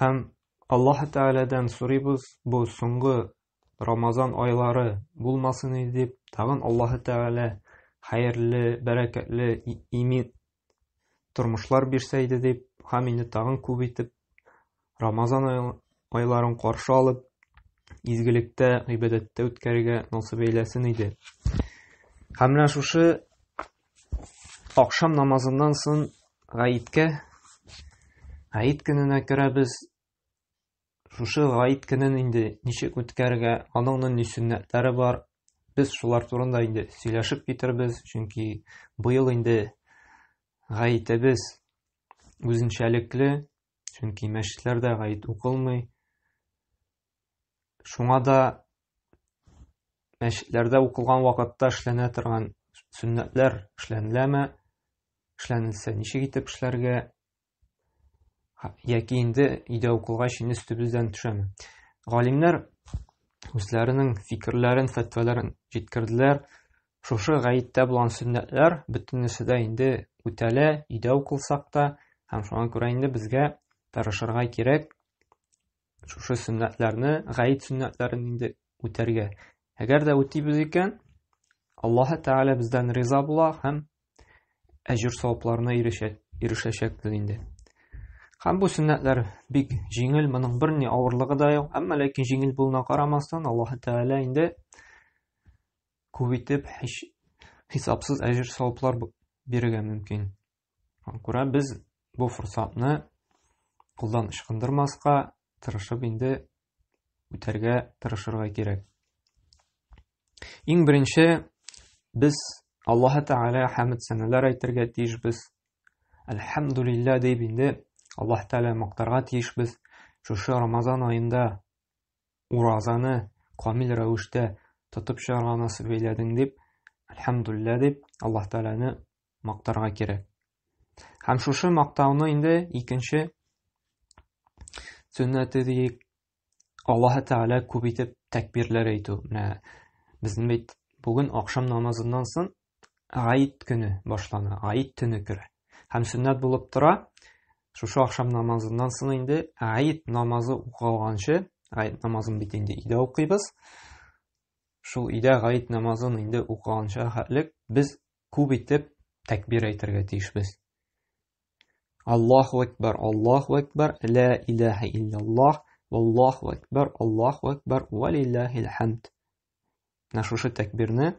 Һәм Аллаһы Тәгаләдән сорыйбыз, бу соңгы Рамазан айлары булмасын иде дип, тагын Аллаһы Тәгалә хәерле, бәрәкәтле, имин тормышлар бирсә иде дип, һәм инде тагын күп итеп Рамазан айларын каршы алып, изгелектә, гыйбадәттә үткәрергә насыйп әйләсен иде. Һәм менә шушы Акшам намазыннан сон гаеткә, гает көненә керәбез. Шушы гает көнен инде ничек үткәрергә, аның нинди сөннәтләре бар. Без шулар турында инде сөйләшеп китербез, чөнки быел инде гаетебез үзенчәлекле, чөнки мәчетләрдә гает укылмый. Шуңа да мәчетләрдә укылган вакытта эшләнә торган сөннәтләр эшләнеләме? Эшләнелсә, ничек итеп эшләргә? Яки инде өйдә укылгач инде өстебездән төшәме? Галимнәр үзләренең фикерләрен, фәтвәләрен җиткерделәр. Шушы гаеттә булган сөннәтләр бөтенесе дә инде үтәлә, өйдә укылсак та, һәм шуңа күрә инде безгә тырышырга кирәк, шушы сөннәтләрне гает сөннәтләрен инде үтәргә әгәр дә үтибез икән аллаһы тәгалә бездән риза була һәм әҗүр савапларына ирешәчәкбез инде һәм бу сөннәтләр бик җиңел моның бер ни авырлыгы да юк әмма ләкин җиңел булуына карамастан аллаһы тәгалә инде күп итеп хисапсыз әҗүр саваплар бирергә мөмкин Шуңа күрә без бу форсатны кулдан ычкындырмаска, тырышып инде үтәргә тырышырга кирәк. Иң беренче без Аллаһ Тәгалә хәмд сәнәләр әйтергә тиешбез. Әлхәмдулиллә дип инде Аллаһ Тәгалә мактарга тиешбез. Шушы Рамазан аенда уразаны камил рәвештә тотып чыгарга насыйп әйләдең дип, әлхәмдулиллә дип Аллаһ Тәгаләне мактарга кирәк. Һәм шушы мактауны инде икенче сөннәте диек Аллаһы Тәгалә күп итеп тәкбирләр әйтү. Менә безнең бит бүген ахшам намазыннан соң Гаид көне башлана, Гаид төне керә. Һәм сөннәт булып тора, шушы ахшам намазыннан соң инде Гаид намазы укылганчы, Гаид намазын бит инде өйдә укыйбыз. Шул өйдә Гаид намазын инде укылганча хәтлек без Күп итеп тәкбир әйтергә тиешбез. Аллаһу акбар, Аллаһу акбар, ла илаһа илляллаһ, Аллаһу акбар, Аллаһу акбар, ва лиллахил хамд. Менә шушы тәкбирне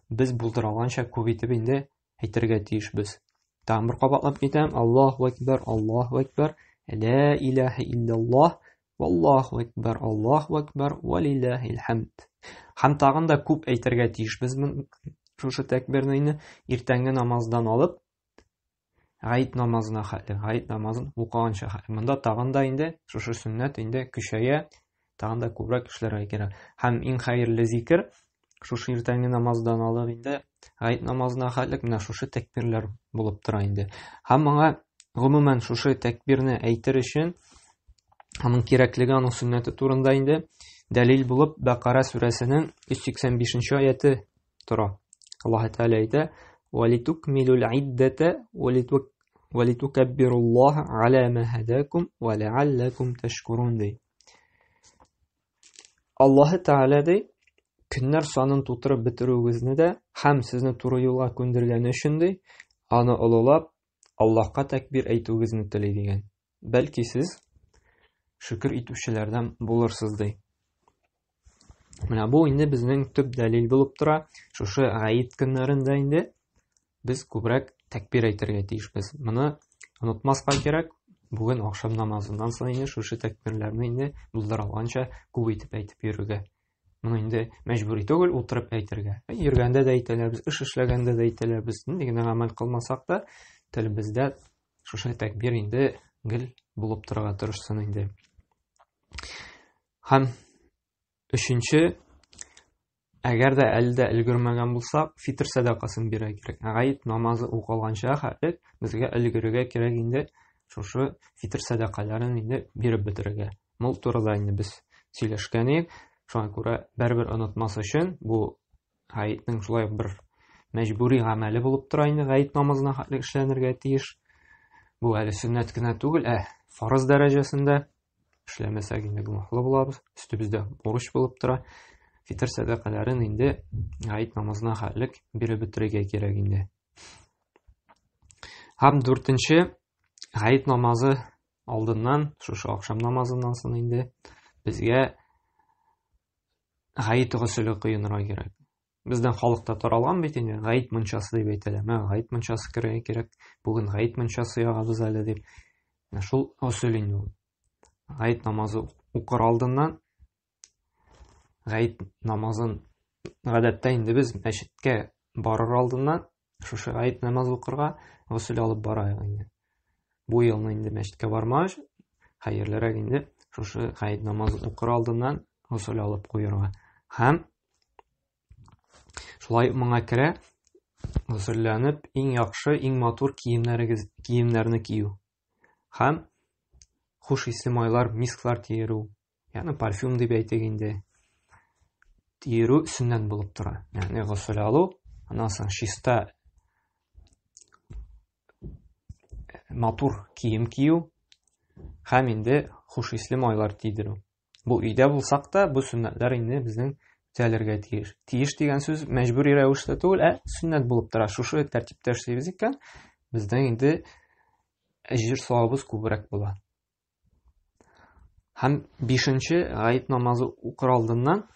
без булдыра алганча күп итеп инде әйтергә тиешбез. Тагын бер кабатлап китәм. Аллаһу акбар, Аллаһу акбар, ла илаһа илляллаһ, Аллаху әкбәр, Аллаху әкбәр, ва лилләһил хәмд. Һәм тагын да күп әйтергә тиешбез шушы тәкбирнене иртәнге намаздан алып гает намазына хәтле, гает намазын укыганча хәтле. Монда тагын да инде шушы сөннәт инде көчәя, тагын да күбрәк эшләргә кирәк. Һәм иң хәерле зикер шушы иртәнге намаздан алып инде гает намазына хәтлек менә шушы тәкбирләр булып тора инде һәм моңа гомумән шушы тәкбирне әйтер өчен аның кирәклеге аның сөннәте турында инде дәлил булып бәкара сүрәсенең 185 аяты тора аллаһ тәала әйтә валитукмилул иддәтә валитукаббируллаһа ала ма һадакум ва лааллакум тәшкурун ди Аллаһы Тәгалә ди, көннәр санын тутырып бетерүегезне дә һәм сезне туры юлга күндергәне өчен ди, аны олылап, Аллаһка тәкбир әйтүегезне тели дигән. Бәлки сез шөкер итүчеләрдән булырсыз ди. Менә бу инде безнең төп дәлил булып тора. Шушы гаит көннәрендә инде без күбрәк тәкбир әйтергә тиешбез. Моны онытмаска кирәк. Бүген ахшам намазыннан соң инде шушы тәкбирләрне инде булдыра алганча күп итеп әйтеп йөрергә. Моны инде мәҗбүри түгел, утырып әйтергә. Йөргәндә дә әйтәләбез, эш эшләгәндә дә әйтәләбез. Нинди генә гамәл кылмасак та, телебездә шушы тәкбир инде гел булып торырга тырышсын инде. Һәм Өченче, әгәр дә әле дә өлгермәгән булсак, фитр сәдакасын бирә кирәк. Гает намазы укылганча хәтлек безгә өлгерергә кирәк инде шушы фитр сәдакаларын инде биреп бетерергә. Мул турыда инде без сөйләшкән идек. Шуңа күрә бер-бер онытмас өчен бу гаетнең шулай бер мәҗбүри гамәле булып тора инде гаит намазына хәтлек эшләнергә тиеш. Бу әле сөннәт кенә түгел, ә фарыз дәрәҗәсендә Эшләмәсәк инде гөнаһлы булабыз, өстебездә бурыч булып тора. Фитр сәдакаларын инде гает намазына хәлек биреп бетерергә кирәк инде. Һәм дүртенче гает намазы алдыннан, шушы ахшам намазыннан соң инде безгә гает гөселе коенырга кирәк. Безнең халыкта таралган бит инде, гаит мунчасы дип әйтәләр. Менә гаит мунчасы керергә кирәк. Бүген гаит мунчасы ягабыз әле дип. Шул усул инде ул. Гаит намазы укыр алдыннан гаит намазын гадәттә инде без мәчеткә барыр алдыннан Шушы гает намазы укырга госел алып бара инде. Бу елны инде мәчеткә бармагач, хәерлерәк инде шушы гает намазы укыр алдыннан госел алып куярга. Һәм шулай моңа керә госөлләнеп, иң яхшы, иң матур киемнәрегез, киемнәрне кию. Һәм хуш исле майлар, мисклар тиерү, Яны парфюм дип әйтик инде. Тирү өстеннән булып тора. Ягъни гусул алу, аннан соң чиста матур кием кию һәм инде хуш исле майлар тидерү. Бу өйдә булсак та, бу сөннәтләр инде безнең үтәлергә тиеш. Тиеш дигән сүз мәҗбүри рәвештә түгел, ә сөннәт булып тора. Шушы тәртиптә эшлибез икән, безнең инде әҗер савабыз күбрәк була. Һәм бишенче гает намазы укыр алдыннан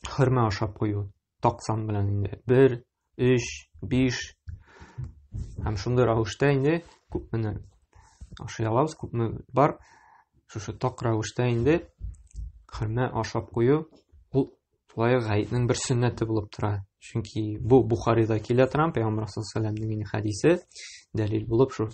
хөрмә ашап кую таксан белән инде. Бер, өч, биш һәм шундый рәвештә инде күпмени ашый алабыз, күпме бар. Шушы так рәвештә инде хөрмә ашап кую ул шулай гаетнең бер сөннәте булып тора. Чөнки бу Бухарида килә торган Пәйгамбәр саллаллаху алейһи ва сәлламнең хәдисе дәлил булып шул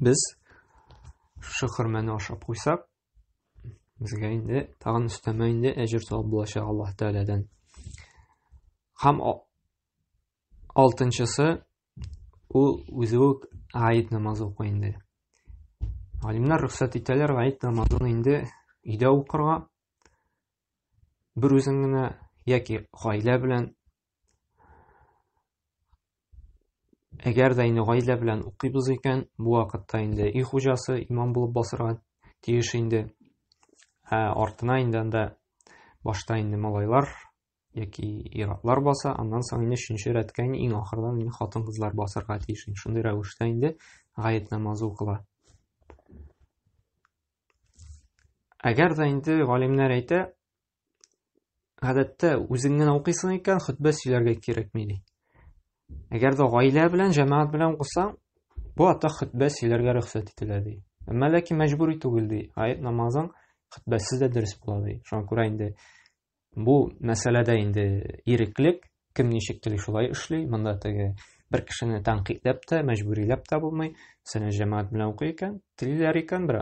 Без шушы хөрмәне ашап куйсак, безгә инде тагын өстәмә инде әҗер савап булачак Аллаһ Тәгаләдән. Һәм алтынчысы ул үзе үк гаит намазы укый инде. Галимнәр рөхсәт итәләр гаит намазын инде өйдә укырга. Бер үзең генә яки гаилә белән Әгәр дә инде гаилә белән укыйбыз икән, бу вакытта инде өй хуҗасы имам булып басырга тиеш инде. Ә артына инде анда башта инде малайлар яки иратлар баса, аннан соң инде өченче рәткә инде иң ахырдан инде хатын-кызлар басырга тиеш. Шундый рәвештә инде гаять намазы укыла. Әгәр дә инде галимнәр әйтә, гадәттә үзең генә укыйсың икән, хөтбә сөйләргә кирәкми ди. Әгәр дә гаилә белән, җәмәгать белән укысаң, бу ата хөтбә сөйләргә рөхсәт ителә ди. Әмма ләкин мәҗбүри түгел ди. Аят намазың хөтбәсез дә дөрес була ди. Шуңа күрә инде бу мәсьәләдә инде иреклек, Кем ничек тели шулай эшли. Монда теге бер кешене тәнкыйтьләп тә, мәҗбүриләп тә булмый. Мәсәлән, җәмәгать белән укый икән, телиләр икән, бер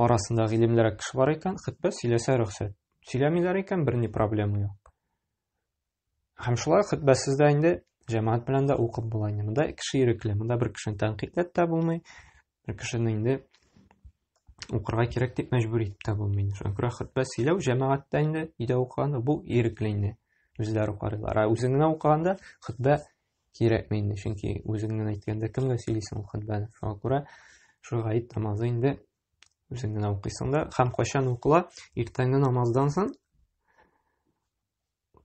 арасында гыйлемлерәк кеше бар икән, хөтбә сөйләсә рөхсәт. Сөйләмиләр икән, берни проблема юк. Һәм шулай хөтбәсез дә инде җәмәгать белән дә укып була инде. Монда кеше ирекле, монда бер кешене тәнкыйтьләп тә булмый, Ә кешене инде укырга кирәк дип мәҗбүр итеп тә булмый. Шөкрә хутбә сөйләү җәмәгатьтә инде өйдә укыганда бу ирекле инде. Үзләре укырлар. Ә үзең генә укыганда хутбә кирәкми инде, чөнки үзең генә әйткәндә кемгә сөйлисең ул хутбәне. Шуңа күрә шул гает намазы инде үзең генә укыйсың да, һәм кайчан укыла? Иртәнге намаздан соң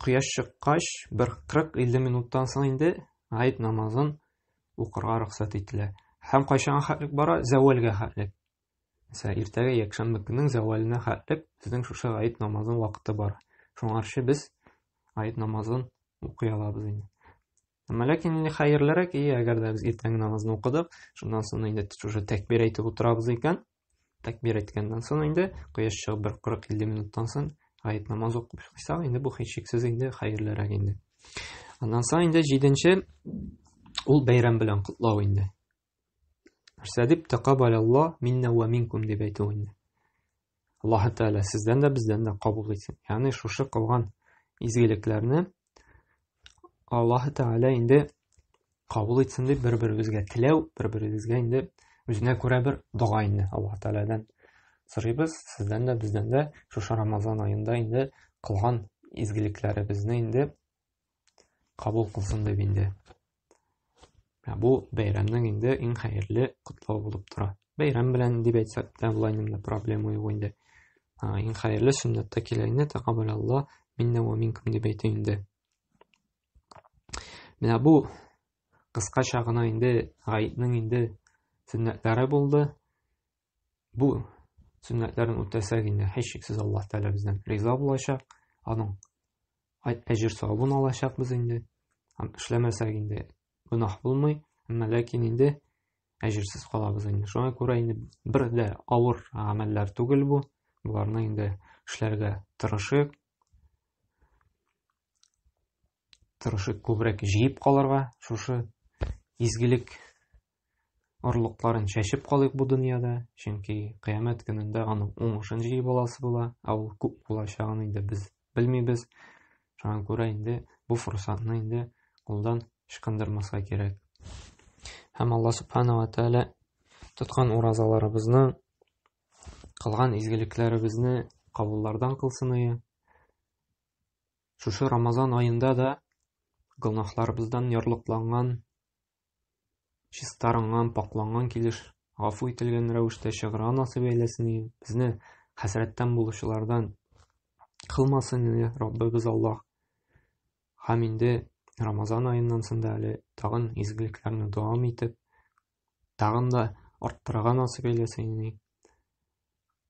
Кояш чыккач, бер 40-50 минуттан соң инде гает намазын укырга рөхсәт ителә. Һәм кайчанга хәтлек бара? Зәвәлгә хәтлек. Мәсәлән, иртәгә якшәмбе көннең зәвәленә хәтлек безнең шушы гает намазының вакыты бар. Шуңарчы без гает намазын укый алабыз инде. Әмма ләкин инде хәерлерәк, и, әгәр дә без иртәнге намазны укыдык, шуннан соң инде шушы тәкбир әйтеп утырабыз икән, Тәкбир әйткәннән соң инде, кояш чыгып бер 40-50 минуттан соң гает намаз укып чыксак, инде бу һичшиксез инде хәерлерәк инде. Аннан соң инде 7-нче ул бәйрәм белән котлау инде. Нәрсә дип тәкаббаляллаһ минна ва минкум дип әйтү инде. Аллаһ Тәгалә сездән дә бездән дә кабул итсен. Ягъни шушы кылган изгелекләрне Аллаһы Тәгалә инде кабул итсен дип бер-беребезгә теләү, бер-беребезгә инде үзенә күрә бер дога инде Аллаһы Тәгаләдән сорыйбыз. Сездән дә, бездән дә шушы Рамазан аенда инде кылган изгелекләребезне инде кабул кылсын дип инде Ә бу бәйрәмнең инде иң хәерле котлавы булып тора. Бәйрәм белән дип әйтсәк тә болай инде проблема юк инде. Иң хәерле сөннәттә килә инде тәкаббәл Алла миннә ва минкум дип әйтә инде. Менә бу кыскача гына инде гаетнең инде сөннәтләре булды. Бу сөннәтләрен үтәсәк инде һичшиксез Аллаһ Тәгалә бездән риза булачак. Аның Айт әҗер савабын алачакбыз инде. Һәм эшләмәсәк инде гөнаһ булмый, әмма ләкин инде әҗерсез калабыз инде. Шуңа күрә инде бер дә авыр гамәлләр түгел бу. Боларны инде эшләргә тырышыйк. Тырышыйк күбрәк җыеп калырга шушы изгелек орлыкларын чәчеп калыйк бу дөньяда, чөнки кыямәт көнендә аның уңышын җыеп аласы була, ә ул күп булачагын инде без белмибез. Шуңа күрә инде бу форсатны инде кулдан ычкындырмаска кирәк. Һәм Алла Субхану ва Тәгалә тоткан уразаларыбызны, кылган изгелекләребезне кабуллардан кылсын ие. Шушы Рамазан аенда да гөнаһларыбыздан ярлыкланган чистарынган, пакъланган килеш гафу ителгән рәвештә чыгыра анасы бәйләсен иде. Безне хәсрәттән булучылардан кылмасын иде Раббыбыз Аллаһ. Һәм инде Рамазан аеннан соң да әле тагын изгелекләрне дәвам итеп, тагын да арттырырга насыйп әйләсен иде.